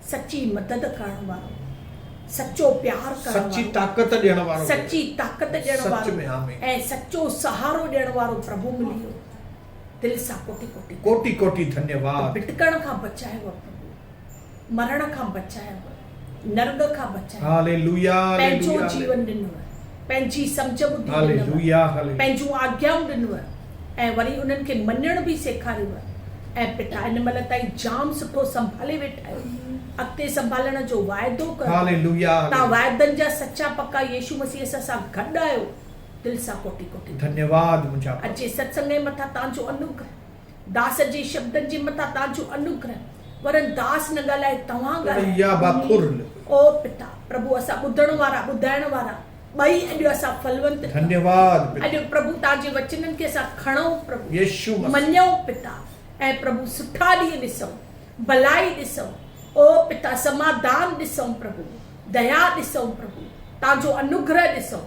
سچي مدد ڪرڻ وارو. سچو پيار ڪرڻ وارو. سچي طاقت ڏيڻ وارو. سچي طاقت ڏيڻ وارو. سچ ۾ حامي. ۽ سچو سهارو ڏيڻ وارو پرڀو ملي ويو. دل سان ڪوٽي ڪوٽي. ڪوٽي ڪوٽي ڌنيا واد. ڀٽڪڻ کان بچايو پرڀو. مرڻ کان بچايو. نرڳ کان بچايو. Hallelujah hallelujah hallelujah. پنهنجو جيون ڏنوء. پنهنجي سمجهه ٻڌي ڏنوء، پنهنجون آگيائون ڏنوء ۽ وري انهن کي مڃڻ به سيکاريوء ۽ پتا هن مهل تائين جام سٺو سنڀالي ويٺا آهيو، اڳتي سنڀالڻ جو واعدو ڪرو. توهان واعدن جا سچا پڪا يسوع مسيح اسان سان گڏ آهيو. دل سان ڪوٽي ڪوٽي ڌنيواد. اڄ جي ستسنگ ۽ مٿان توهان جو انوگره. داس جي شبدن جي مٿان تان جو انوگره ورن داس نه ڳالهائي توهان ڳالهايو او پتا پرڀو اسان ٻڌڻ وارا ٻڌائڻ وارا ٻئي اڄ اسان ڦلونت ڪيون اڄ پرڀو تان جي وچنن کي اسان کڻئون پرڀو مڃئون پتا ۽ پرڀو سٺا ڏينهن ڏسئون ڀلائي ڏسئون او پتا سماڌان ڏسئون پرڀو ديا ڏسئون پرڀو تان جو انوگره ڏسئون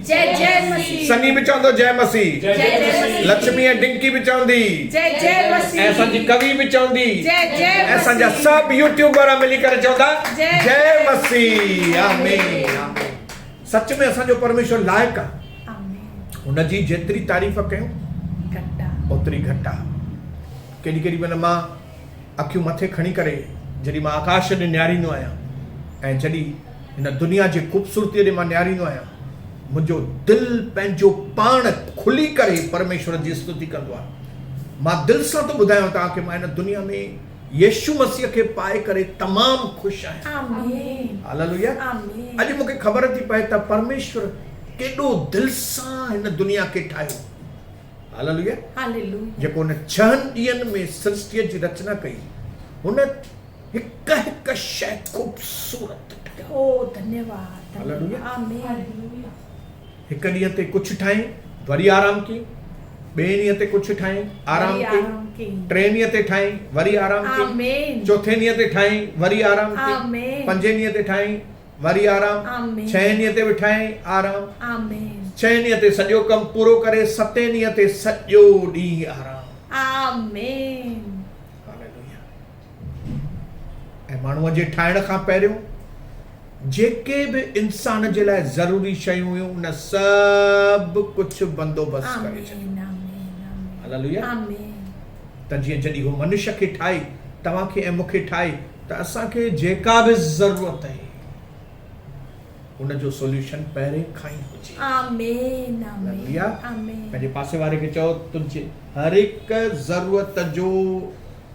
جئ جئ مسيح. سني به چوندو جئ مسيح. جئ جئ مسيح. لڇمي ۽ ڊنڪي به چوندي. جئ جئ مسيح. ۽ اسان جي ڪوي به چوندي. جئ جئ مسيح. ۽ اسان جا سڀ يوٽيوبر ملي ڪري چوندا جئ مسيح. آمين آمين. سچ ۾ اسان جو پرميشور لائق آ. آمين. هن جي جيتري تعريف ڪيون گهٽ آ. اوتري گهٽ آ. ڪيڏي ڪيڏي مهل مان اکيون مٿي کڻي ڪري جڏهن مان آڪاش ڏي نهاريندو آهيان ۽ جڏهن هن دنيا جي خوبصورتيء ڏي مان نهاريندو آهيان. منهنجو دل پنهنجو پاڻ کلي ڪري پرميشور جي استتي ڪندو آهي. مان دل سان ٿو ٻڌايان توهان کي مان هن دنيا ۾ يسوع مسيح کي پائي ڪري تمام خوش آهيان. هاليلويا! اڄ مون کي خبر ٿي پئي ته پرميشور ڪيڏو دل سان هن دنيا کي ٺاهيو. هاليلويا! جيڪو هن ڇهن ڏينهن ۾ سرشتيء جي رچنا ڪئي هن. هڪ هڪ شيء خوبصورت ٺهيا. او ڌنيواد ڌنيواد آمين. هڪ ڏينهن تي ڪڇ ٺاهين وري آرام ڪين ٻئي ڏينهن تي ڪڇ ٺاهين آرام ڪين ٽئين ڏينهن تي ٺاهين وري آرام ڪين چوٿين ڏينهن تي ٺاهين وري آرام ڪين پنجين ڏينهن تي ٺاهين وري آرام ڇهين ڏينهن تي به ٺاهين آرام ڇهين ڏينهن تي سڄو ڪم پورو ڪري ستين ڏينهن تي سڄو ڏينهن آرام آمين. ۽ ماڻهوء جي ٺاهڻ کان پهريون جيڪي به انسان جي لاء ضروري شيون هيون ان سڀ ڪجهه بندوبست ڪري ڇڏيو ته جيئن جڏهن هو منش کي ٺاهي توهان کي ۽ مون کي ٺاهي ته اسان کي جيڪا به ضرورت آهي ان جو سوليوشن پهرين کان ئي هجي آمين آمين پنهنجي پاسي واري کي چئو تنهنجي هر هڪ ضرورت جو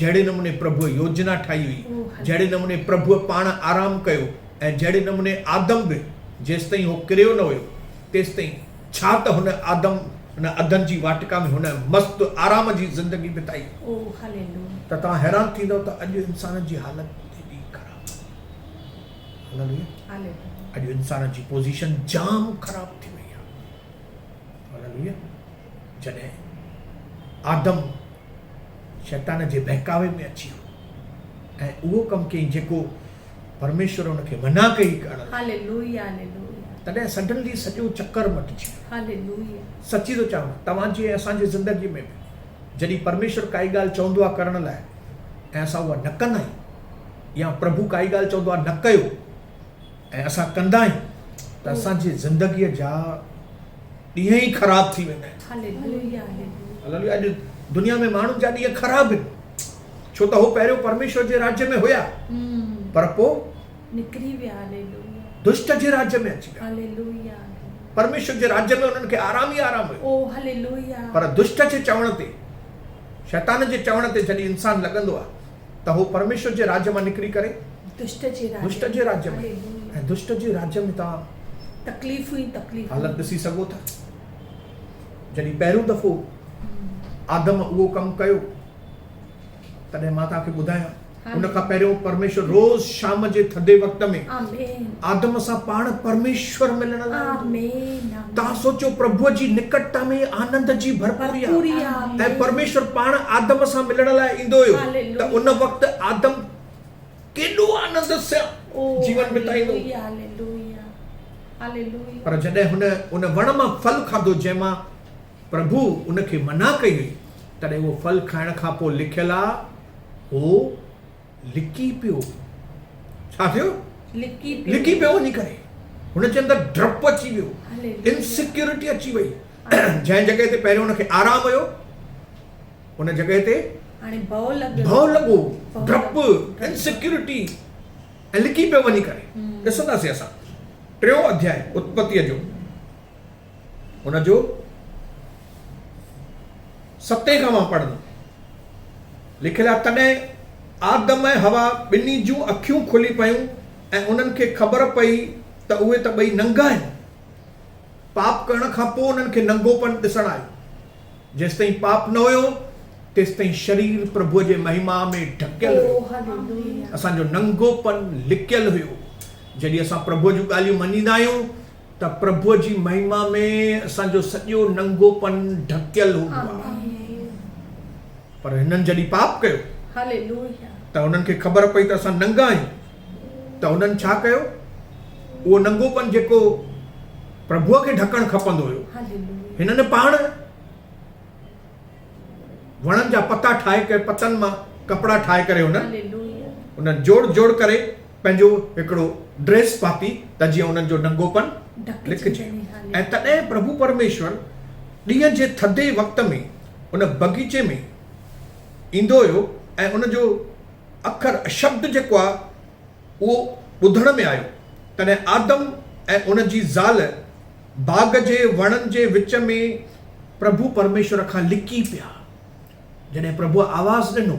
جهڙي نموني پرڀوء يوجنا ٺاهي هئي، جهڙي نموني پرڀوء پاڻ آرام ڪيو ۽ جهڙي نموني آدم به جيستائين هو ڪريو نه هيو تيستائين ڇا ته هن آدم ان عدن جي واٽڪا ۾ هن مست آرام جي زندگي بتائي. ته توهان حيران ٿيندؤ ته اڄ انسان جي حالت ڪيڏي خراب آهي. اڄ انسان جي پوزيشن جام خراب ٿي وئي آهي. جڏهن آدم شيطان جي بهڪاوي ۾ اچي ويو ۽ اهو ڪم ڪيائين جيڪو پرميشور ان کي منع ڪئي ڪرڻ لاء تڏهن سڊنلي سڄو چڪر مٽجي ويو سچي ٿو چوان توهان جي ۽ اسان جي زندگي ۾ به جڏهن پرميشور ڪائي ڳالهه چوندو آهي ڪرڻ لاء ۽ اسان اها نه ڪندا آهيون يا پرڀو ڪائي ڳالهه چوندو آهي نه ڪيو ۽ اسان ڪندا آهيون ته اسان جي زندگيء جا ڏينهن ئي خراب ٿي ويندا آهن. اڄ دنيا ۾ ماڻهن جا ڏينهن خراب آهن ڇو ته هو پهريون پرميشور جي راڄ ۾ هيا پر پوء نڪري ويا دشٽ جي راڄ ۾ اچي ويا پرميشور جي راڄ ۾ انهن کي آرام ئي آرام هيو پر دشٽ جي چوڻ تي شيطان جي چوڻ تي جڏهن انسان لڳندو آهي ته هو پرميشور جي راڄ مان نڪري ڪري دشت جي راڄ دشت جي راڄ ۾ ۽ دشت جي راڄ ۾ توهان تڪليفون ئي تڪليفون حالت ڏسي سگهو ٿا جڏهن پهريون دفعو آدم اهو ڪم ڪيو تڏهن مان توهان کي ٻڌايان ان کان پهريون پرميشور روز شام جي ٿڌي وقت ۾ آمين آدم سان پاڻ پرميشور ملڻ لاء آمين توهان سوچيو پرڀوء جي نڪٽتا ۾ ئي آنند جي ڀرپوري آهي ۽ پرميشور پاڻ آدم سان ملڻ لاء ايندو هيو ته ان وقت آدم ڪيڏو آنند سان جيون بتائيندو. پر جڏهن هن ان وڻ مان ڦل کاڌو جنهن مان پرڀوء ان کي منع ڪئي هئي تڏهن اهو ڦل کائڻ کان پوء لکيل آ هو، لڪي پيو ڇا ٿيو لڪي پيو لڪي پيو وڃي ڪري هن جي اندر ڊپ اچي ويو انسيڪيورٽي اچي وئي جنهن جڳهه تي پهريون هن کي آرام هيو ان جڳهه تي هاڻي ڀؤ لڳو ڀؤ لڳو ڊپ انسيڪيورٽي ۽ لڪي پيو وڃي ڪري ڏسنداسي اسان ٽيون اڌياء اتپتيء جو هن جو ستين کان مان پڙهندم. لکيل آهي، تڏهن آدم ۽ حوا ٻنهي جون اکيون کلي پيون ۽ انهن کي خبر پئي ته اهي ته ٻئي ننگا آهن. پاپ ڪرڻ کان پوء انهن کي ننگوپن ڏسڻ آيو. جيستائين پاپ نه هيو، تيستائين شرير پرڀوء جي مهما ۾ ڍڪيل هيو. اسان جو ننگوپن لڪيل هيو. جڏهن اسان پرڀوء جون ڳالهيون مڃيندا آهيون ته پرڀوء جي مهما ۾ اسان جو سڄو ننگوپن ڍڪيل هوندو آهي پر هنن جڏهن پاپ ڪيو ته هنن کي خبر پئي ته اسان ننگا آهيون ته هنن ڇا ڪيو اهو ننگوپن جيڪو پرڀوء کي ڍڪڻ کپندو هيو هنن پاڻ وڻن جا پتا ٺاهي ڪري پتن مان ڪپڙا ٺاهي ڪري هنن انهن جوڙ جوڙ ڪري پنهنجو هڪڙو ڊريس پاتي ته جيئن انهن جو ننگوپن ڍڪجي ۽ تڏهن پرڀو پرميشور ڏينهن جي ٿڌي وقت ۾ ان بغيچي ۾ ايندو هيو ۽ ان جو اکر شبد جيڪو آهي اهو ٻڌڻ ۾ آيو تڏهن آدم ۽ ان جي زال باغ جي وڻن جي وچ ۾ پرڀو پرميشور کان لڪي پيا جڏهن پرڀوء آواز ڏنو.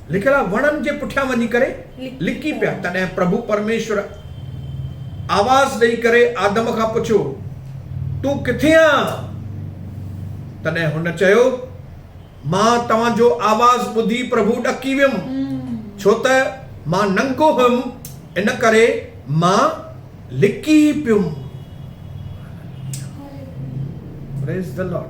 لکيل وڻن جي پٺيان وڃي ڪري لڪي پيا. تڏهن پرڀو پرميشور آواز ڏئي ڪري آدم کان پڇيو، تون ڪٿي آن؟ تڏهن هن چيو، مان توهان جو آواز ٻڌي پرڀو ڏڪي ويم، ڇو ته مان ننگو هيم، ان ڪري مان لڪي پيم. Praise the Lord.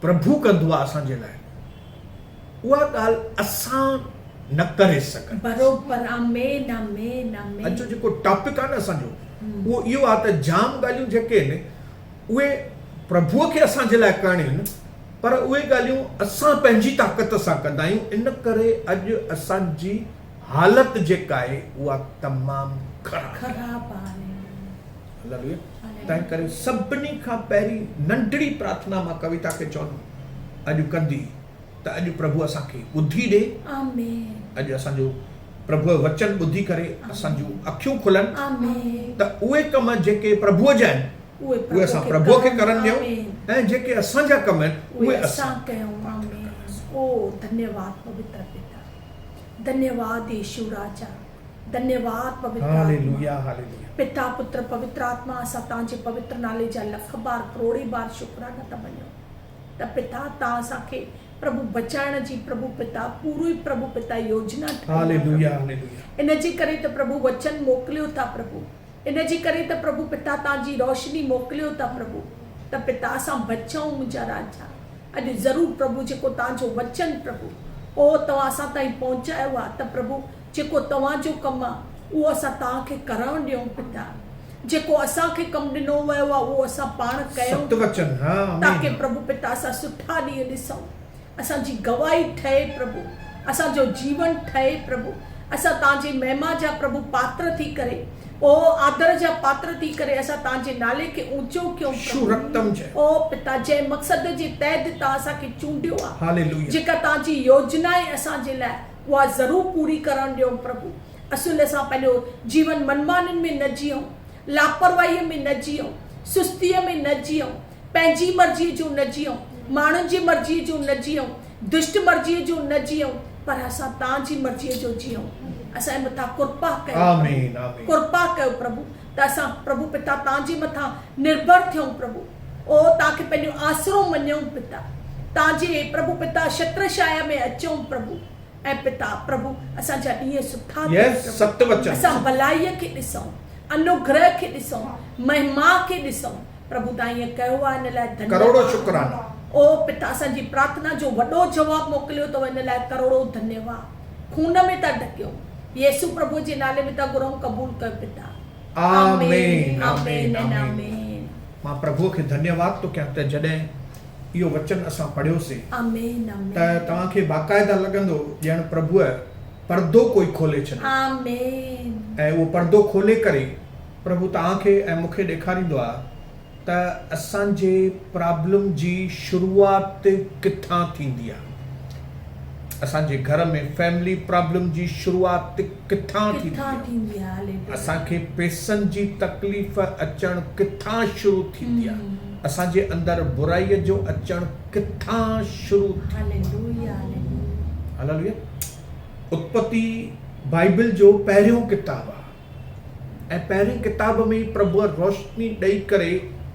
پرڀو ڪندو آهي اسان جي لاء، اها ڳالهه اسان نه ڪري سگهنداسين. اڄ جو جيڪو ٽاپڪ آهي نه اسان جو اهو اهو آهي ته جام ڳالهيون جيڪي آهن اهي پرڀوء کي اسان جي لاء ڪرڻيون آهن پر اهي ڳالهيون اسان پنهنجي طاقت سان ڪندا آهيون ان ڪري اڄ اسان جي حالت جيڪا آهي اها تمام خراب آهي. لڳي، تنهن ڪري سڀني کان پهرين ننڍڙي پرارٿنا مان ڪويتا کي چوندو، اڄ ڪندي ته اڄ پرڀو اسان کي ٻڌي ڏي، اڄ اسان جو پرڀو جو وچن ٻڌي ڪري اسان جون اکيون کلن ته اهي ڪم جيڪي پرڀو جا آهن اهي اسان پرڀو کي ڪرڻ ڏيون ۽ جيڪي اسان جا ڪم آهن اهي اسان ڪيون آمين او ڌنيواد پوتر پتا ڌنيواد ايشو راجا ڌنيواد پوتر آتما، پتا پتر پوتر آتما اسان تان جي پوتر نالي جا لک بار ڪروڙي بار شڪرانا ٿا مڃون ته پتا تان اسان کي پرڀو بچائڻ جي پرڀو پتا پورو ئي پرڀو پتا يوجنا ٺاهي پرڀو ان جي ڪري ته پرڀو وچن موڪليو ٿا پرڀو ان جي ڪري ته پرڀو پتا تان جي روشني موڪليو ٿا پرڀو ته پتا اسان بچون منهنجا راجا اڄ ضرور پرڀو جيڪو تان جو وچن پرڀو اوهو توهان اسان تائين پهچايو آهي ته پرڀو جيڪو توهان جو ڪم آ، اهو اسان توهان کي ڪرڻ ڏيون پتا. جيڪو اسان کي ڪم ڏنو ويو آ، اهو اسان پاڻ ڪيون ٿا پتا، تاڪه پرڀو پتا اسان سٺا ڏينهن ڏسون. اسان جي گواهي ٺهي پرڀو، اسان جو جيون ٺهي پرڀو، اسان توهان جي مهما جا پرڀو پاتر ٿي ڪري، او آدر جا پاتر ٿي ڪري اسان توهان جي نالي کي اوچو ڪيون پرڀو. او پتا، جنهن مقصد جي تحت توهان اسان کي چونڊيو آ، جيڪا توهان جي يوجنا آهي اسان جي لاء، اها ضرور پوري ڪرڻ ڏيو پرڀو. اسين ان سان پنهنجو جيون منمانين ۾ نه جيئون، لاپرواهيء ۾ نه جيئون، سستيء ۾ نه جيئون، پنهنجي مرضيء جو نه جيئون، ماڻهن جي مرضيء جو نه جيئون، دشٽ مرضيء جو نه جيئون، پر اسان تان جي مرضيء جو جيئون. اسان جي مٿان ڪرپا ڪيو پرڀو. ڪرپا ڪيو پرڀو. ته اسان پرڀو پتا تان جي مٿان نرڀر ٿيون پرڀو او تان کي پنهنجو آسرو مڃيون پتا تان جي پرڀو پتا شتر شايا ۾ اچون پرڀو ۽ پتا پرڀو اسان جا ڏينهن سٺا ٿين پرڀو اسان ڀلائي کي ڏسون انوگره کي ڏسون مهما کي ڏسون پرڀو تان ائين ڪيو آ ان لاء ڌنيواد او پتا اسان جي پرارٿنا جو وڏو جواب موڪليو اٿو ان لاء ڪروڙو ڌنيواد. خون ۾ ٿا ڍڪيون. يسوع پرڀوء جي نالي ۾ ٿا گهرئون قبول ڪر پتا. آمين آمين آمين آمين. مان پرڀوء کي ڌنيه واد ٿو ڪيان ته جڏهن اهو وچن اسان پڙهيوسي آمين آمين ته توهان کي باقاعده لڳندو ڄڻ پرڀوء پردو ڪوئي کولي ڇڏيو آمين. ۽ اهو پردو کولي ڪري پرڀو توهان کي ۽ مون کي ڏيکاريندو آهي ته اسان جي پرابلم جي شروعات ڪٿان ٿيندي آ اسان جي گهر ۾ فيملي پرابلم جي شروعات ڪٿان ٿيندي آ اسان کي پيسن جي تڪليف اچڻ ڪٿان شروع ٿيندي آ اسان جي اندر برائي جو اچڻ ڪٿان شروع ٿيندي آ هللويا اتپتي بائبل جو پهريون ڪتاب آ. ۽ پهرين ڪتاب ۾ ئي پرڀوء روشني ڏئي ڪري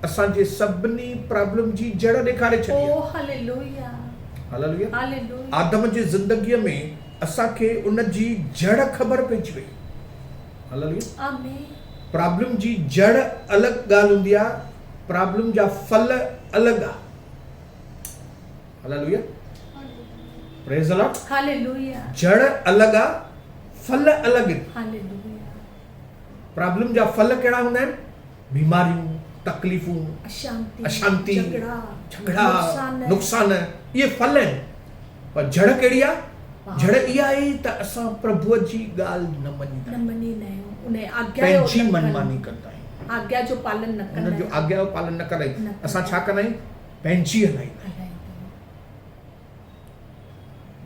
اسان جي سڀني پرابلم جي جڙ ڏيکاري ڇڏي آهي. آدم جي زندگيء ۾ اسان کي ان جي جڙ خبر پئجي وئي. پرابلم جي جڙ الڳ ڳالهه هوندي آهي، پرابلم جا ڦل الڳ آهن. جڙ الڳ آهي، ڦل الڳ آهن. پرابلم جا ڦل ڪهڙا هوندا آهن؟ بيماريون، تڪليفون، اشانتي، جهڳڙا، نقصان اهي ڦل آهن. پر جڙ ڪهڙي آهي؟ جڙ اها آهي ته اسان پرڀوء جي ڳالهه نه مڃيندا آهيون. پنهنجي منماني ڪندا آهيون. هن جو آگيا جو پالن نه ڪندا آهيون. اسان ڇا ڪندا آهيون؟ پنهنجي هلائيندا آهيون.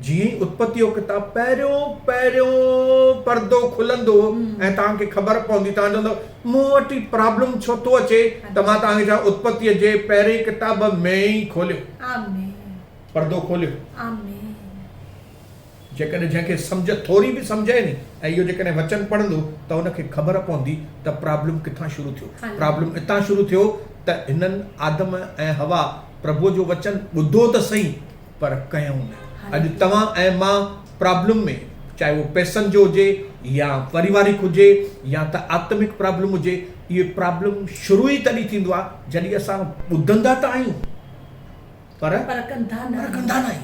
جيئن ئي اتپتي جو ڪتاب پهريون پهريون پردو کلندو ۽ توهان کي خبر پوندي توهان چوندو مون وٽ هي پرابلم ڇو ٿو اچي ته مان توهان کي چوان اتپتي جي پهرين ڪتاب ۾ ئي کوليو پردو کوليو جيڪڏهن جنهن کي سمجهه ٿوري به سمجهه آهي ني ۽ اهو جيڪڏهن وچن پڙهندو ته ان کي خبر پوندي ته پرابلم ڪٿان شروع ٿيو پرابلم اتان شروع ٿيو ته هنن آدم ۽ حوا پرڀوء جو وچن ٻڌو ته سهي پر ڪيائون نه اڄ توهان ۽ مان پرابلم ۾ چاهي اهو پئسن جو هجي يا پريوارڪ هجي يا ته آتمڪ پرابلم هجي اهي پرابلم شروع ئي تڏهن ٿيندو آهي جڏهن اسان ٻڌندا ته آهيون پر ڪندا ناهين.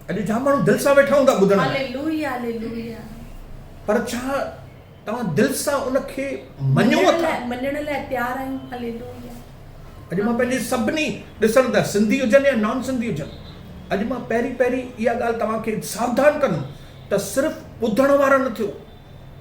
اڄ جام ماڻهو دل سان ويٺا هوندا ٻڌڻ لاء. پر ڇا توهان دل سان ان کي مڃو ٿا؟ مڃڻ لاء تيار آهيون. اڄ مان پنهنجي سڀني ڏسندڙ سنڌي هجن يا نان سنڌي هجن اڄ مان پهرين پهرين اها ڳالهه توهان کي ساوڌان ڪندم ته صرف ٻڌڻ وارا نه ٿيو.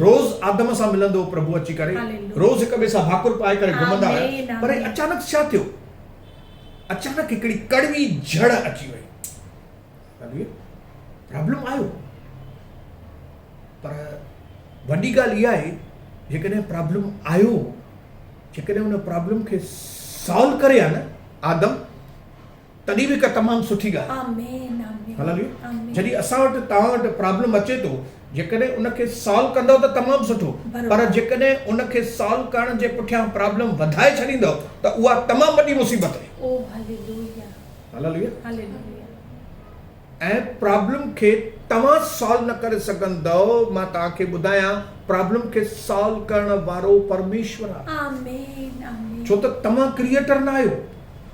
روز آدم سان ملندو پرڀو اچي ڪري روز هڪ ٻئي سان ڀاڪر پائي ڪري گهمندا رهيا پر اچانڪ ڇا ٿيو اچانڪ هڪڙي ڪڙوي جھڙ اچي وئي پرابلم آيو پر وڏي ڳالهه اها آهي جيڪڏهن پرابلم آيو جيڪڏهن ان پرابلم کي سالو ڪري آ نه آدم تڏهن به هڪ تمام سٺي ڳالهه آهي جڏهن اسان وٽ توهان وٽ پرابلم اچي ٿو جيڪڏهن ان کي سالو ڪندو ته تمام سٺو پر جيڪڏهن ان کي سالو ڪرڻ جي پٺيان پرابلم وڌائي ڇڏيندو ته اها تمام وڏي مصيبت آهي ۽ پرابلم کي توهان سالو نه ڪري سگهندو مان توهان کي ٻڌايان پرابلم کي سالو ڪرڻ وارو پرميشور آهي ڇو ته توهان ڪريئيٽر نه آهيو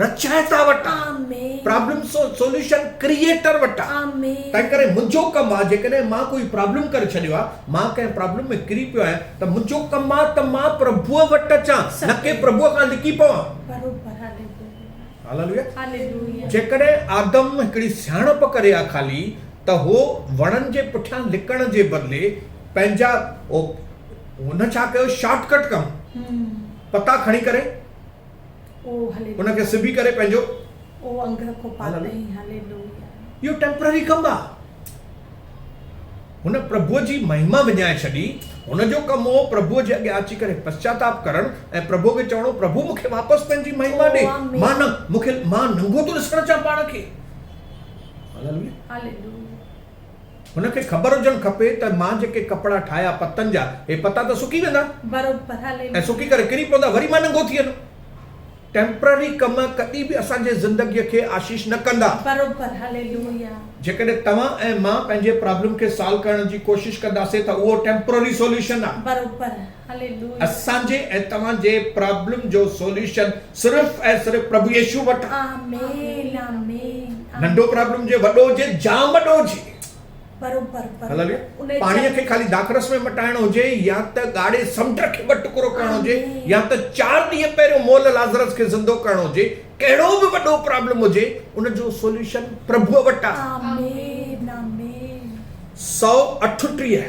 رچائتا وٺان پرابلم سوليوشن ڪريئيٽر وٺان تنهن ڪري منهنجو ڪم آ جيڪڏهن مان ڪوئي پرابلم ڪري ڇڏيو آ مان ڪنهن پرابلم ۾ ڪري پيو آهيان ته منهنجو ڪم آ ته مان پرڀوء وٽ اچان نه ڪي پرڀوء کان لڪي پوان هاليلويا جيڪڏهن آدم هڪڙي سياڻپ ڪري آ خالي ته هو وڻن جي پٺيان لڪڻ جي بدلي پنهنجا هن ڇا ڪيو شارٽ ڪٽ ڪم پتا کڻي ڪري ان کي سبي ڪري پنهنجو اهو ٽيمپرري ڪم آ هن پرڀوء جي مهما وڃائي ڇڏي هن جو ڪم هو پرڀوء جي اڳيان اچي ڪري پسچاتاپ ڪرڻ ۽ پرڀوء کي چوڻو پرڀو مون کي واپس پنهنجي مهما ڏي مان نه مون کي مان ننگو ٿو ڏسڻ چاهيان پاڻ کي هن کي خبر هجڻ کپي ته مان جيڪي ڪپڙا ٺاهيا پتن جا، هي پتا ته سڪي ويندا ۽ سڪي ڪري ڪري پوندا، وري مان ننگو ٿي ويندم. ٽيمپرري ڪم ڪڏهن به اسان جي زندگيء کي آشيش نه ڪندا. جيڪڏهن توهان ۽ مان پنهنجي پرابلم کي سالو ڪرڻ جي ڪوشش ڪنداسين ته اهو ٽيمپرري سوليوشن آهي. اسان جي ۽ توهان جي پرابلم جو سوليوشن صرف ۽ صرف پرڀو يسوع وٽ آ. ننڍو پرابلم هجي وڏو هجي جام وڏو هجي. پاڻي کي خالي داخرس ۾ مٽائڻو هجي يا ته ڳاڙهي سمنڊ کي ٻه ٽڪرو ڪرڻو هجي يا ته چار ڏينهن پهريون مئل لازرس کي زندو ڪرڻو هجي ڪهڙو به وڏو پرابلم هجي ان جو سوليوشن پرڀو وٽ آ. سؤ اٺٽيهه.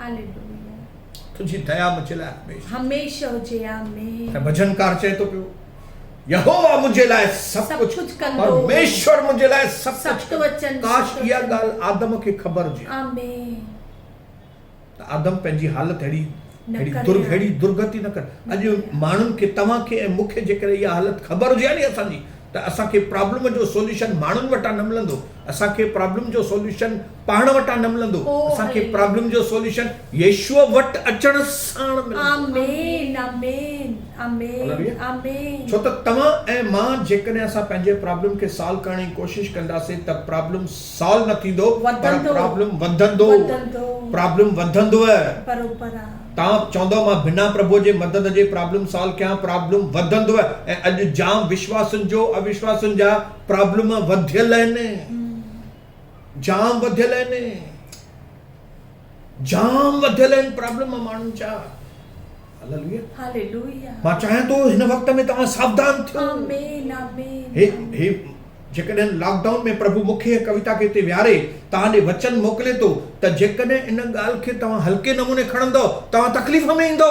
هاليلويا. تنهنجي ديا منهنجي لاء هميشه. هميشه هجي. آمين. ۽ ڀڄنڪار چئي ٿو پيو. يهوه منهنجي لاء سڀ سڀ ڪجهه ڪجهه ڪندو. پرميشور منهنجي لاء سڀ ڪجهه سخت ڪندو. وچن ۾ ڪاش سخت اها وچن. ڳالهه آدم کي خبر هجي آمين. ته آدم پنهنجي حالت اهڙي نه اهڙي ڪري در ها. اهڙي درگتي نه ڪري. نه اڄ ڪري ها. ماڻهن کي توهان کي ۽ مون کي جيڪڏهن اها حالت خبر هجي ها ني اسان جي ته اسان کي پرابلم جو سوليوشن ماڻهن وٽان نه ملندو. اسان کي پرابلم جو سوليوشن پاڻ وٽان نه ملندو، اسان کي پرابلم جو سوليوشن يسوع وٽ اچڻ ساڻ ملندو. ڇو ته توهان ۽ مان جيڪڏهن اسان پنهنجي پرابلم کي سالو ڪرڻ جي ڪوشش ڪنداسين ته پرابلم سالو نه ٿيندو پر پرابلم وڌندو پرابلم وڌندوء توهان چوندؤ مان بنا پرڀوء جي مدد جي پرابلم سالو ڪيان پرابلم وڌندوء ۽ اڄ جام وشواسين جو اوشواسين جا پرابلم وڌيل آهن. جام وڌيل آهن جام وڌيل آهن پرابلم ماڻهن جا مان چاهيان ٿو هن وقت ۾ توهان ساوڌان ٿيو جيڪڏهن لاڪ ڊائون ۾ پرڀو مون کي ڪويتا کي هتي ويهاري توهان ڏي وچن موڪلي ٿو ته جيڪڏهن ان ڳالهه کي توهان هلڪي نموني کڻندو توهان تڪليف ۾ ايندو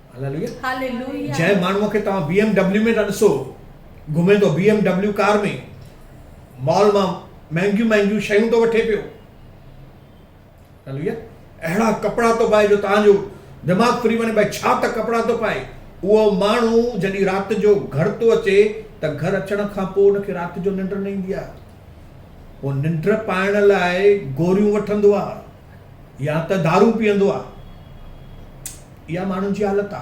هاليلويا جنهن ماڻهوء کي توهان بي ايم ڊبليو ۾ ٿا ڏسو گهمي ٿو B M W car ۾ mall مان مهنگيون مهنگيون شيون ٿو وٺي پيو هاليلويا اهڙا ڪپڙا ٿو پائي جو توهان جو دماغ ڦري وڃي بھي ڇا ته ڪپڙا ٿو پائي اهو ماڻهو جڏهن رات جو گهر ٿو اچي ته گهر اچڻ کان پوء ان کي رات جو ننڊ نه ايندي آهي هو ننڊ پائڻ لاء گوريون وٺندو آهي يا ته دارون پيئندو آهي اها ماڻهن جي حالت آ.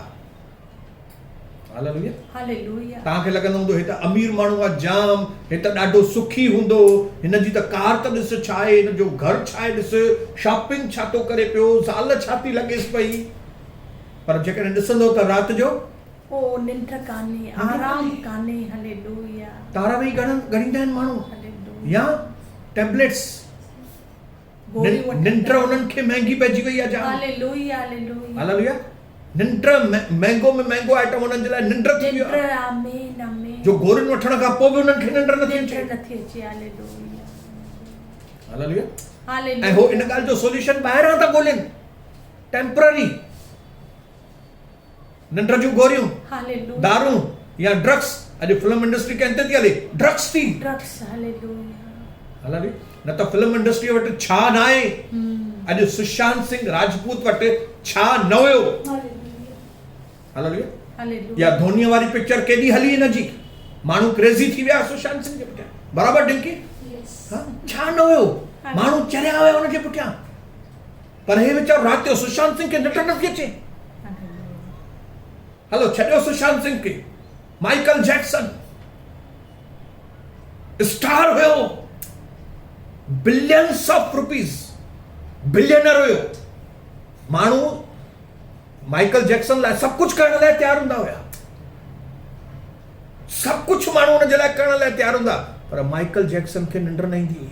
هاليلويا. هاليلويا. توهان کي لڳندو هوندو هي ته امير ماڻهو آ جام هي ته ڏاڍو سکي هوندو هن جي ته ڪار ته ڏس ڇا آهي هن جو گهر ڇا آهي ڏس شاپنگ ڇا ٿو ڪري پيو زال ڇا ٿي لڳيس پئي پر جيڪڏهن ڏسندو ته رات جو او ننڊ ڪانهي آرام ڪانهي هاليلويا. تارا ويهي ڳڻن ڳڻيندا آهن ماڻهو يا ٽيبليٽس. ننڊ انهن کي مهنگي پئجي وئي آهي جان هاليلويا ننڊ مهنگو ۾ مهنگو آئٽم انهن جي لاء ننڊ ٿي ويو آهي جو گورين وٺڻ کان پوء به انهن کي ننڊ نٿي اچي هاليلويا ۽ هو ان ڳالهه جو سوليوشن ٻاهران ٿا ڳولين ٽيمپرري ننڊ جون گوريون، دارون يا ڊرگس، اڄ فلم انڊسٽري ڪنهن تي ٿي هلي، ڊرگس تي هلي نه ته فلم انڊسٽري وٽ ڇا ناهي، اڄ سشانت سنگهه راجپوت وٽ ڇا نه هيو، اها ڌونيء واري پڪچر ڪيڏي هلي هن جي، ماڻهو ڪريزي ٿي ويا سشانت سنگهه جي پٺيان برابر ڊنڪي ڇا نه هيو، ماڻهو چريا هيا هن جي پٺيان. پر هي ويچارو رات جو سشانت سنگهه کي نٽ نٿي اچي. هلو ڇڏيو سشانت سنگهه کي، مائيڪل جيڪسن اسٽار هيو، بلينس آف روپيز بلينر هيو، ماڻهو مائيڪل جيڪسن لاء سڀ ڪجهه ڪرڻ لاء تيار هوندا هيا، سڀ ڪجهه ماڻهو ان جي لاء ڪرڻ لاء تيار هوندا، پر مائيڪل جيڪسن کي ننڊ نه ايندي هئي.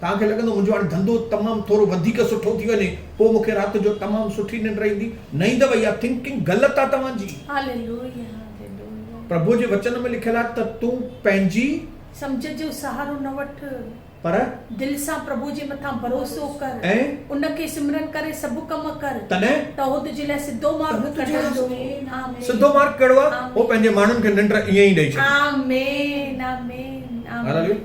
توهان کي لڳندو منهنجو هاڻي ڌنڌو تمام ٿورو وڌيڪ سٺو ٿي وڃي پوء مون کي رات جو تمام سٺي ننڊ ايندي نه ايندو اها ٿنڪنگ غلط آهي توهان جي. Hallelujah hallelujah. پرڀوء جي وچن ۾ لکيل آهي ته تون پنهنجي. سمجهه جو سهارو نه وٺ. پر. دل سان پرڀوء جي مٿان ڀروسو ڪر. ۽. ان کي سمرن ڪري سڀ ڪم ڪر. تڏهن. ته اهو تنهنجي لاء سڌو مارگ ڪڍندو. آمين. سڌو مارگ ڪهڙو آهي؟ هو پنهنجي ماڻهن کي ننڊ ائين ئي ڏئي ڇڏي. آمين آمين آمين. هاليلويا.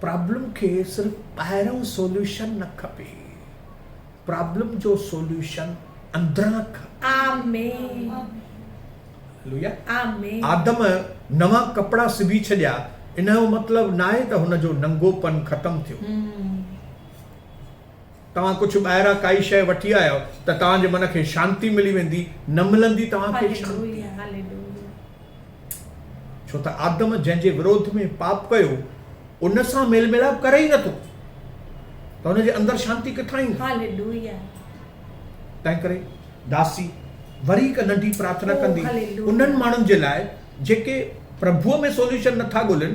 پرابلم کي صرف ٻاهرئون سوليوشن نه کپي پرابلم جو سوليوشن اندران کپي. آدم نوان ڪپڙا سبي ڇڏيا انهيو مطلب ناهي ته هن جو ننگو پن ختم ٿيو. توهان ڪجهه ٻاهران ڪائي شيء وٺي آيو ته توهان جي من کي شانتي ملي ويندي، نه ملندي توهان کي شانتي. ڇو ته آدم جنهن جي وروڌ ۾ پاپ ڪيو ان سان ميل ميلاپ ڪري ئي نٿو ته ان جي اندر شانتي ڪٿان ايندي؟ تنهن ڪري داسي وري هڪ ننڍي پرارٿنا ڪندي انهن ماڻهن جي لاء جيڪي پرڀوء ۾ سوليوشن نٿا ڳولين،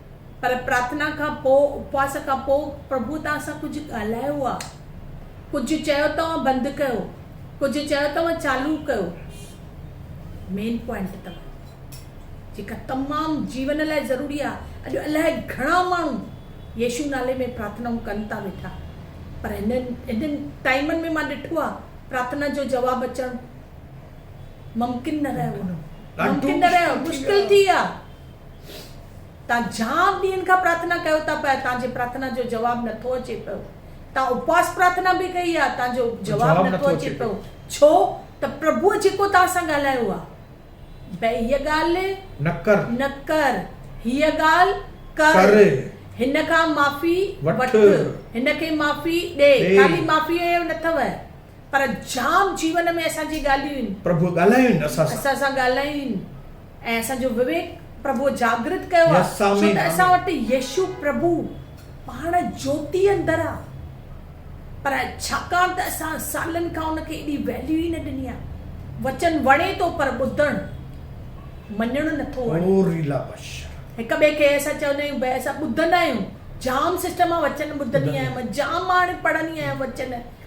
پر پرارٿنا کان پوء، اپواس کان پوء، پرڀوء توهان سان ڪجهه ڳالهايو آ، ڪجهه چيو توهان بند ڪيو، ڪجهه چيو توهان چالو ڪيو. مين پوائنٽ توهان جيڪا تمام جيون لاء ضروري آ، اڄ الاهي گهڻا ماڻهو يسوع نالي ۾ پرارٿنائون ڪن ٿا ويٺا، پر هنن هنن ٽائيمن ۾ مان ڏٺو آ پرارٿنا جو جواب اچڻ ممڪن نه رهيو آ، ممڪن نه رهيو آ، مشڪل ٿي آ. توهان جام ڏينهن کان پرارٿنا ڪيو ٿا پر توهان جي پرارٿنا جو جواب نٿو اچي پيو توهان اپواس پرارٿنا به ڪئي آهي توهان جو جواب نٿو اچي پيو ڇو ته پرڀوء جيڪو توهان سان ڳالهايو آهي بي هيء ڳالهه نه ڪر نه ڪر هيء ڳالهه ڪر هن کان معافي وٺ هن کي معافي ڏي خالي معافيء جو نٿو پر جام جيون ۾ اسان جي ڳالهين. پرڀوء ڳالهايون اسان سان. اسان سان ڳالهايون ۽ اسان جو وويڪ پرڀوء جاگرت ڪيو آ ڇو ته اسان وٽ يشو پرڀو پاڻ جوتي اندر آ پر ڇاڪاڻ ته اسان سالن کان ان کي ايڏي ويليو ئي نه ڏني آ وچن وڻي ٿو پر ٻڌڻ مڃڻ نه ٿو وڻي هڪ ٻئي کي اسان چوندا آهيون ڀائي اسان ٻڌندا آهيون جام سسٽم آ وچن ٻڌندي آهيان مان جام ماڻهي پڙهندي آهيان وچن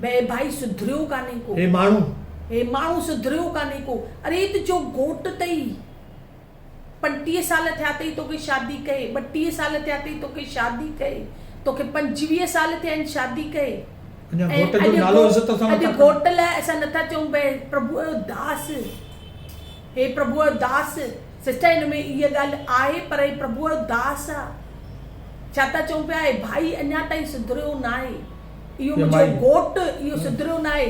بئ ڀائي سڌريو ڪانهي ڪو. هي ماڻهو. هي ماڻهو سڌريو ڪانهي ڪو. اري تنهنجو گهوٽ تئي. پنٽيهه سال ٿيا تئي توکي شادي ڪئي. ٻٽيهه سال ٿيا تئي توکي شادي ڪئي. توکي پنجويهه سال ٿيا آهن شادي ڪئي. اڃا گهوٽ جو نالو عزت سان نٿا کڻو. اڄ گهوٽ لاء اسان نٿا چئون بئ پرڀوء جو داس. هي پرڀوء داس! سسٽر هن ۾ اها ڳالهه آهي پر هي پرڀوء داس آ ڇا ٿا چئون پيا هي ڀائي اڃا تائين سڌريو ناهي اهو منهنجو گهوٽ اهو سڌريو ناهي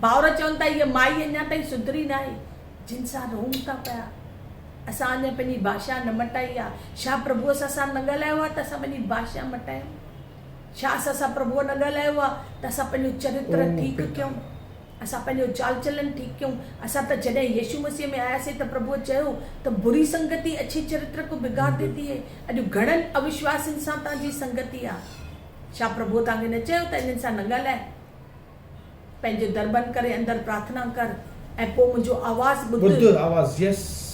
ڀائر چون ٿا هيء مائي اڃا تائين سڌري ناهي جن سان رهون ٿا پيا اسان اڃا پنهنجي ڀاشا نه مٽائي آ ڇا پرڀوء سان اسان نه ڳالهايو آ ته اسان پنهنجي ڀاشا مٽايون ڇا اسان سان پرڀوء نه ڳالهايو آ ته اسان پنهنجو چرتر ٺيڪ ڪيون. اسان پنهنجو چال چلن ٺيڪ ڪيون. اسان ته جڏهن يسوع مسيح ۾ آياسين ته پرڀوء چيو ته بري سنگتي اڇي چرتر ڪو بگاڙ ديتي هي. اڄ گهڻن اوشواسين سان توهان جي سنگتي آ. ڇا پرڀوء توهان کي نه چيو ته انهن سان نه ڳالهاء. پنهنجو در بند ڪري اندر پرارٿنا ڪر ۽ پوء منهنجو آواز ٻڌ.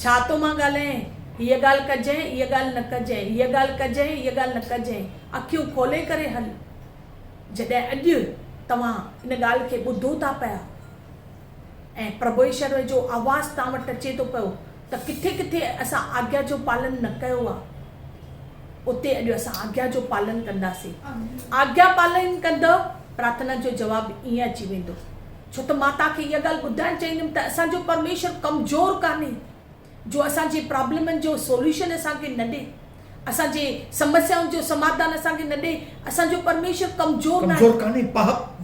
ڇا تو مان ڳالهائين؟ هيء ڳالهه ڪجانء، ايء ڳالهه نه ڪجانء، هيء ڳالهه ڪجانء، ايء ڳالهه نه ڪجانء. اکيون کولي ڪري هل. جڏهن اڄ توهان ان ڳالهه کي ٻڌو ٿا پيا ۽ پرڀو ايشور جو آواز توهان وٽ اچي ٿو پيو ته ڪٿي ڪٿي اسان آگيا جو پالن نه ڪيو آهي اتي اڄ اسان آگيا جو پالن ڪنداسين آگيا پالن ڪندء پرارٿنا جو جواب ائين اچي ويندو ڇو ته مان توهان کي اها ڳالهه ٻڌائڻ چاهيندم ته اسان جو پرميشور ڪمزور ڪانهي جو اسان جي پرابلمن جو سوليوشن اسان کي نه ڏي اسان جي سمسيائن جو سماڌان اسان کي نه ڏي اسان جو پرميشور ڪمزور ناهي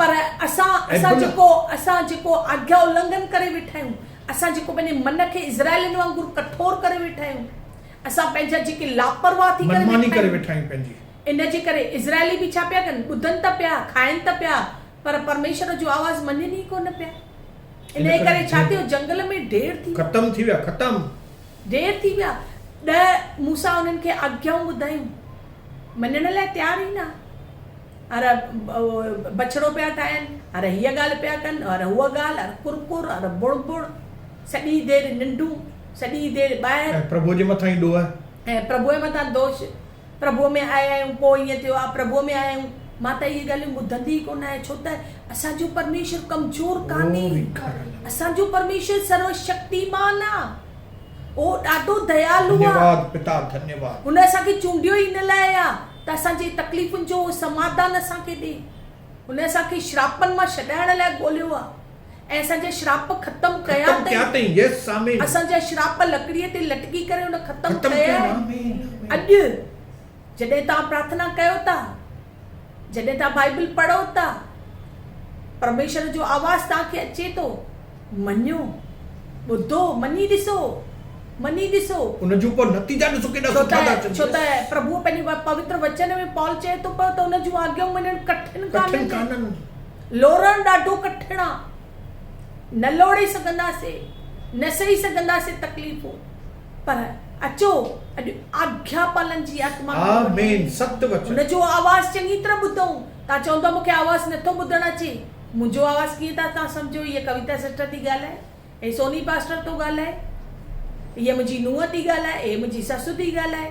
پر اسان اسان جيڪو اسان جيڪو آگيا النگھن ڪري ويٺا آهيون اسان جيڪو پنهنجي من کي اسرائيلن وانگر ڪٺور ڪري ويٺا آهيون اسان پنهنجا جيڪي لاپرواهه ٿي ڪري ويٺا آهيون ان جي ڪري اسرائيلي به ڇا پيا ڪن ٻڌن ته پيا کائن ته پيا پر پرميشور جو آواز مڃن ئي ڪونه پيا. انهيء ڪري ڇا ٿيو، جنگل ۾ ڍير ٿي ويا. ختم ٿي ويا، ختم. ڍير ٿي ويا. ڏهه موسيٰ انهن کي آگيائون ٻڌايون. مڃڻ لاء تيار ئي نه. ار بڇڙو پيا ٺاهين، ار هيء ڳالهه پيا ڪن، ار هوء ڳالهه، ار ڪر ڪر، ار بڻ بڻ. سڄي دير ننڊون، سڄي دير ٻاهر. ۽ پرڀوء جي مٿان ئي ڏوهه. ۽ پرڀوء مٿان دوش. پرڀوء ۾ آيا آهيون پوء ائين ٿيو آ پرڀوء ۾ آيا آهيون مان ته اهي ڳالهيون ٻڌندي ئي ڪونه آهيان ڇو ته اسان جو پرميشور ڪمزور ڪانهي اسان جو پرميشور سرو شڪتيمان آ اهو ڏاڍو ديالو آ هن اسان کي چونڊيو ئي ان لاء آ ته اسان جي تڪليفن جو سماڌان اسان کي ڏي هن اسان کي شراپن مان ڇڏائڻ لاء ڳوليو آ. ۽ اسان جا شراپ ختم ڪيا تئين، اسان جا شراپ لڪڙيء تي لٽڪي ڪري ان ختم ڪيا آهن. اڄ جڏهن توهان پرارٿنا ڪيو ٿا، جڏهن توهان بائيبل پڙهو ٿا، پرميشور جو آواز توهان کي اچي ٿو، مڃو، ٻڌو، مڃي ڏسو، مڃي ڏسو. ڇو ته پرڀوء پنهنجي پوتر وچن ۾ پال چئي ٿو پيو ته ان جون آگيائون مڃڻ ڪٺن ڪانهن. لورڻ ڏاڍو ڪٺڻ آ، نه لوڙي سگهنداسين، نه سهي سگهنداسين تڪليفون، پر اچو اڄ آگيا پالن جي آتما کي وٺون، هن جو آواز چڱي طرح ٻڌون، توهان چوندؤ مون کي آواز نه ٿو ٻڌڻ اچي، منهنجو آواز ڪيئن ٿا توهان سمجهو، هيء ڪويتا سسٽر ٿي ڳالهائي، هي سوني پاسٽر ٿو ڳالهائي، هيء منهنجي نونهن ٿي ڳالهائي، هيء منهنجي سس ٿي ڳالهائي.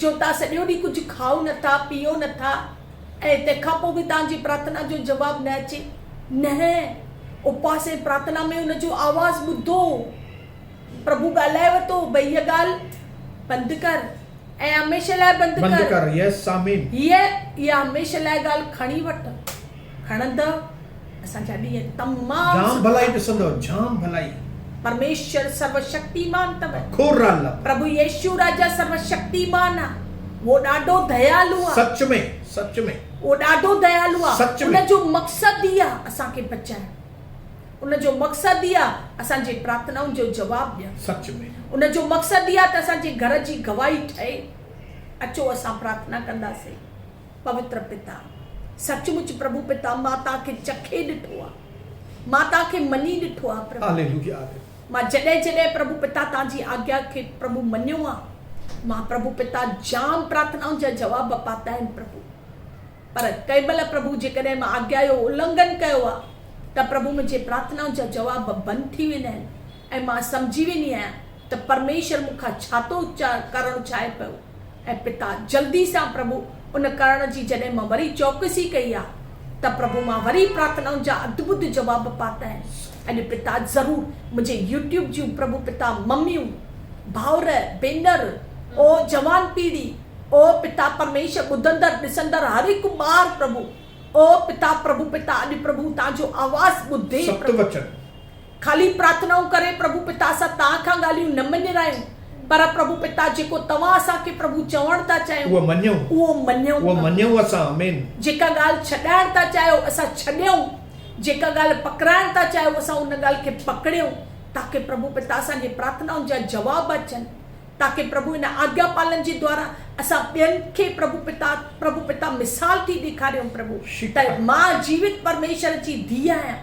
جو توهان سڄو ڏينهن ڪجهه کائو نه ٿا، پيئو نه ٿا ۽ تنهن کان پوء به توهان جي پرارٿنا جو جواب نه اچي؟ نهين، اپواس ۽ پرارٿنا ۾ ان جو آواز ٻڌو. پرڀو ڳالهائي ورتو، ڀئي هيء ڳالهه بند ڪر ۽ هميشه لاء بند ڪر. بند ڪر، Yes، آمين. هيء، اها هميشه لاء ڳالهه کڻي وٺ. کڻندؤ اسان جا ڏينهن تمام سٺا. جام ڀلائي ڏسندؤ جام ڀلائي. پرميشور سرو شڪتيمان تب هي. کوڙ را لپ. پرڀو يشو راجا سرو شڪتيمان آ. هو ڏاڍو ديالو آ. سچ ۾ سچ ۾. هو ڏاڍو ديالو آ. سچ ۾. ان جو مقصد ئي آ اسان کي بچائڻ. ان جو مقصد ئي آ اسان جي پرارٿنائن جو جواب ڏيڻ. سچ ۾. ان جو مقصد ئي آ ته اسان جي گهر جي گواهي ٺهي. اچو اسان پرارٿنا ڪنداسين. پوتر پتا، سچ مچ پرڀو پتا مان تان کي چکي ڏٺو آ، مان تان کي مڃي ڏٺو آ پرڀو، مان جڏهن جڏهن پرڀو پتا تان جي آگيا کي پرڀو مڃيو آ، مان پرڀو پتا جام پرارٿنائن جا جواب پاتا آهن پرڀو، پر ڪنهن مهل پرڀو جيڪڏهن مان آگيا جو النگهن ڪيو آ ته پرڀو منهنجي پرارٿنائن جا جواب بند ٿي ويندا آهن ۽ مان سمجهي ويندي آهيان ته پرميشور مون کان ڇا ٿو ڪرڻ چاهي پيو ۽ پتا جلدي سان پرڀو ان ڪرڻ جي جڏهن مان وري چوڪسي ڪئي آ ته پرڀو مان وري پرارٿنائن جا اڌ ٻڌ جواب پاتائين اڄ پتا ضرور منهنجي يوٽيوب جون پرڀو پتا مميون ڀائر ڀينر او جوان پيڙهي او پتا پرميشور ٻڌندڙ ڏسندڙ هر هڪ ٻار پرڀو او پتا پرڀو پتا اڄ پرڀو تان جو آواز ٻڌي پرڀو. سپت وچن خالي پرارٿنائون ڪري پرڀو پتا سان تان کان ڳالهيون نه مڃرايون، پر پرڀو پتا جيڪو توهان اسان کي پرڀو چوڻ ٿا چاهيون، اهو مڃيون، اهو مڃيون، اهو مڃيون اسان، آمين. جيڪا ڳالهه ڇڏائڻ ٿا چاهيو اسان ڇڏيون، جيڪا ڳالهه پڪڙائڻ ٿا چاهيو اسان ان ڳالهه کي پڪڙيون، تاڪه پرڀو پتا اسان جي پرارٿنائن جا جواب اچن، تاڪه پرڀو ان آگيا پالن جي دوارا اسان ٻين کي پرڀو پتا، پرڀو پتا مثال ٿي ڏيکاريون، پرڀو ته مان جيوت پرميشور جي ڌيء آهيان.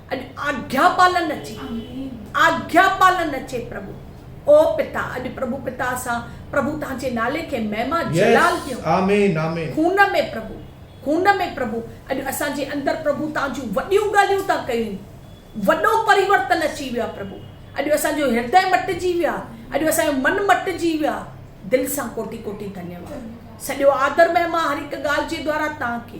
اڄ آگيا پالن اچي، آگيا پالن اچي پرڀو. او پتا، اڄ پرڀو پتا اسان پرڀو تنهنجي نالي کي مهما جلال ڏيون. خون ۾ پرڀو، خون ۾ پرڀو اڄ اسان جي اندر پرڀو تان جون وڏيون ڳالهيون تان ڪيون. وڏو پريورتن اچي ويو آ پرڀو. اڄ اسان جو هردئه مٽجي ويو آ، اڄ اسان جو من مٽجي ويو آ. دل سان ڪوٽي ڪوٽي ڌنيواد. سڄو آدر مهما هر هڪ ڳالهه جي دوارا تان کي.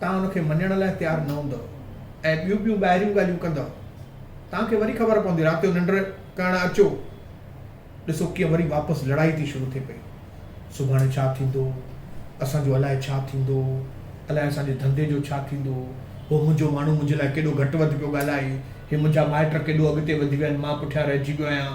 توهان ان کي مڃڻ لاء تيار نه هوندؤ ۽ ٻيون ٻيون ٻاهريون ڳالهيون ڪندؤ. توهان کي وري خبر پوندي رات جو ننڊ ڪرڻ اچو. ڏسو ڪيئن وري واپس لڙائي ٿي شروع ٿئي پئي. سڀاڻي ڇا ٿيندو؟ اسان جو الاء ڇا ٿيندو؟ الاء اسان جي ڌنڌي جو ڇا ٿيندو؟ هو منهنجو ماڻهو منهنجي لاء ڪيڏو گهٽ وڌ پيو ڳالهائي. هي منهنجا مائٽ ڪيڏو اڳتي وڌي ويا آهن. مان پٺيان رهجي پيو آهيان.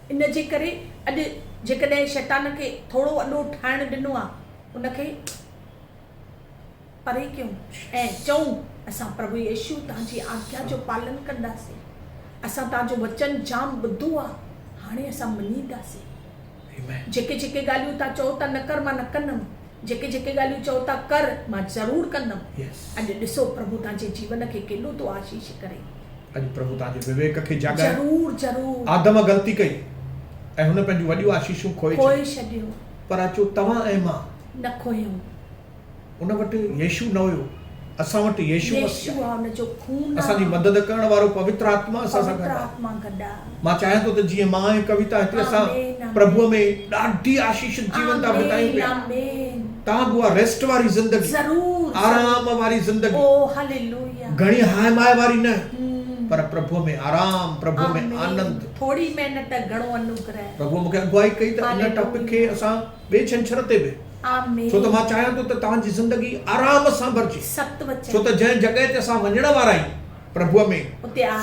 ان جي ڪري اڄ جيڪڏهن شيطان کي ٿورو اڏو ٺاهڻ ڏنو آ ان کي پري ڪيون ۽ چئون اسان پرڀو يسوع تان جي آگيا جو پالن ڪنداسين اسان تان جو وچن جام ٻڌو آ هاڻي اسان مڃينداسين جيڪي جيڪي ڳالهيون تان چئو ٿا نڪر مان نه ڪندم. جيڪي جيڪي ڳالهيون چئو ٿا ڪر مان ضرور ڪندم اڄ ڏسو پرڀو توهان جي جيون کي ڪيڏو ٿو آشيش ڪري. اڄ پرڀو توهان جي وويڪ کي جاڳائي. ضرور ضرور. آدم غلطي ڪئي ۽ هن پنهنجون وڏيون آشيشون کوهي ڇڏيون. کوهي ڇڏيون. پر اچو توهان ۽ مان. نه کوهيون. ان وٽ يشو نه هيو. اسان وٽ يسوع مسيح آهي. اسان جي مدد ڪرڻ وارو پوتر آتما اسان سان گڏ آهي. مان چاهيان ٿو ته جيئن مان ۽ ڪويتا هتي اسان پرڀوء ۾ ڏاڍي آشيشت جيون ٿا بتايون پيا، توهان به اها ريسٽ واري زندگي، آرام واري زندگي، گهڻي هاء ماء واري نه، پر پرڀوء ۾ آرام، پرڀوء ۾ آنند. پرڀوء مونکي اڳواهي ڪئي ته ان ٽاپڪ کي اسان ٻئي ڇنڇر تي به. ڇو ته مان چاهيان ٿو ته توهان جي زندگي آرام سان ڀرجي. ڇو ته جنهن جڳهه تي اسان وڃڻ وارا آهيون پرڀوء ۾،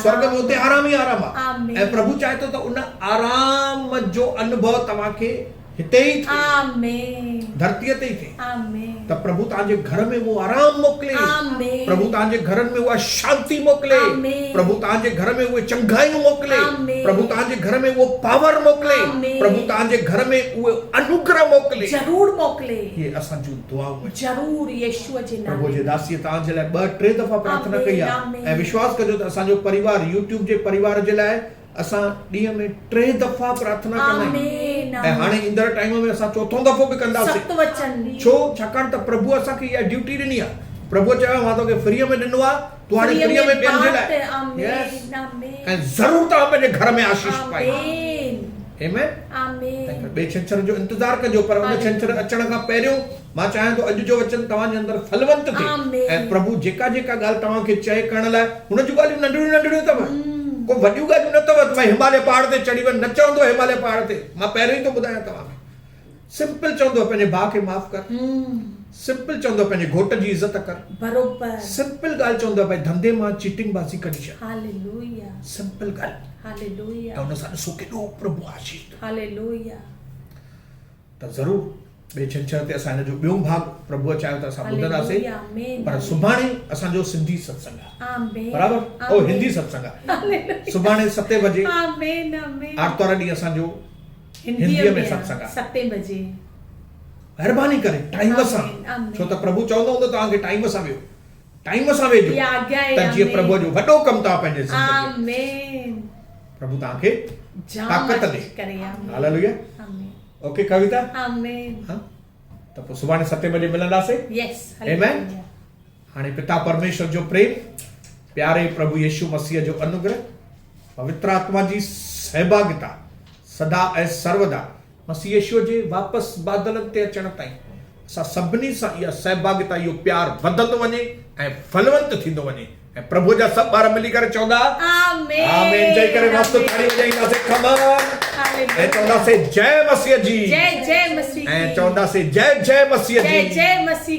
سورڳ ۾، اتي آرام ئي آرام آهي ۽ پرڀو چاهي ٿو ته ان آرام جو انڀو توهان کي هتي ئي ٿئي، ڌرتيء تي ئي ٿئي. ته پرڀو توهان جي گهر ۾ اهو آرام موڪلي، پرڀو توهان جي گهرن ۾ اها شانتي موڪلي، پرڀو توهان جي گهر ۾ اهي چڱايون موڪلي، پرڀو توهان جي گهر ۾ اهو پاور موڪلي، پرڀو توهان جي گهر ۾ اهو انوگره موڪلي. ضرور موڪلي. اهي اسان جون دعائون آهن. ضرور يسوع جي نالي ۾. پرڀو جي داسيء توهان جي لاء ٻه ٽي دفعا پرارٿنا ڪئي آهي ۽ وشواس ڪجو ته اسان جو پريوار يوٽيوب جي پريوار جي لاء اسان ڏينهن ۾ ٽي دفعا پرارٿنا ڪندا آهيون آمين ۽ هاڻي آمين ايندڙ ٽائيم ۾ اسان چوٿون دفعو به ڪنداسين سخت وچن ڏي ڇو ڇاڪاڻ ته پرڀوء اسان کي اها ڊيوٽي ڏني آهي پرڀوء چيو آهي مان توکي فريء ۾ ڏنو آهي تون هاڻي فريء فريء ۾ ۾ ٻين جي لاء بانٽ يس آمين آمين ۽ ضرور توهان پنهنجي گهر ۾ آشيش پائيندا آمين آمين ۽ آمين پوء ٻئي ڇنڇر جو انتظار ڪجو پر ان ڇنڇر هاليلويا اچڻ کان پهريون مان چاهيان ٿو اڄ جو وچن توهان جي اندر ڦلونت ٿئي ۽ پرڀو جيڪا جيڪا ڳالهه توهان کي چئي ڪرڻ لاء هن جون ڳالهيون ننڍڙيون ننڍڙيون اٿم ڪو وڏيون ڳالهيون نه اٿم ته هماليه پهاڙ تي چڙهي وڃ نه چوندو هماليه پهاڙ تي مان پهريون ئي ٿو ٻڌايان توهان کي سمپل چوندو پنهنجي ڀاء کي معاف ڪر سمپل چوندو پنهنجي گهوٽ جي عزت ڪر بروبر سمپل ڳالهه چوندو ڀاء ڌنڌي مان چيٽنگ بازي ڪڍي ڇڏ هاليلويا سمپل ڳالهه هاليلويا ته ان سان ڏسو ڪيڏو پرڀو آشيش ڏيندو هاليلويا ته ضرور ٻئي ڇنڇر تي اسان هن جو ٻيون ڀاڳ پرڀوء چاهيو ته اسان ٻڌنداسين پر سڀاڻي اسان جو سنڌي ستسنگ آهي برابر او هندي ستسنگ آهي سڀاڻي ستين بجي آرتوار ڏينهن اسان جو هنديء ۾ ستسنگ آهي ستين بجي مهرباني ڪري ٽائيم سان ڇو ته پرڀو چوندو هوندو توهان کي ٽائيم سان ويهو ٽائيم سان ويجهو ته جيئن پرڀوء جو وڏو ڪم توهان پنهنجي زندگيء ۾ ڏسي سگهو. پرڀو توهان کي طاقت ڏي. هاليلويا. اوڪي ڪويتا. ها ته پوء سڀاڻي ستين بجي ملنداسين. آمين. هاڻي پتا پرميشور جو پريم، پياري پرڀو يسوع مسيح جو انوگره، پوتر آتما جي سهڀاڳيتا سدا ۽ سربدا مسيح يسوع جي واپس بادلن تي اچڻ تائين، اسان سڀني سان اها سهڀاڳيتا، اهو پيار وڌندو وڃي ۽ ڦلونت ٿيندو وڃي ۽ پرڀوء جا سڀ ٻار ملي ڪري چوندا، آمين چئي ڪري مست تاڙي وڄائينداسين خمر ۽ چونداسين جئه مسيح جي ۽ چونداسين جئه جئه مسيح جي.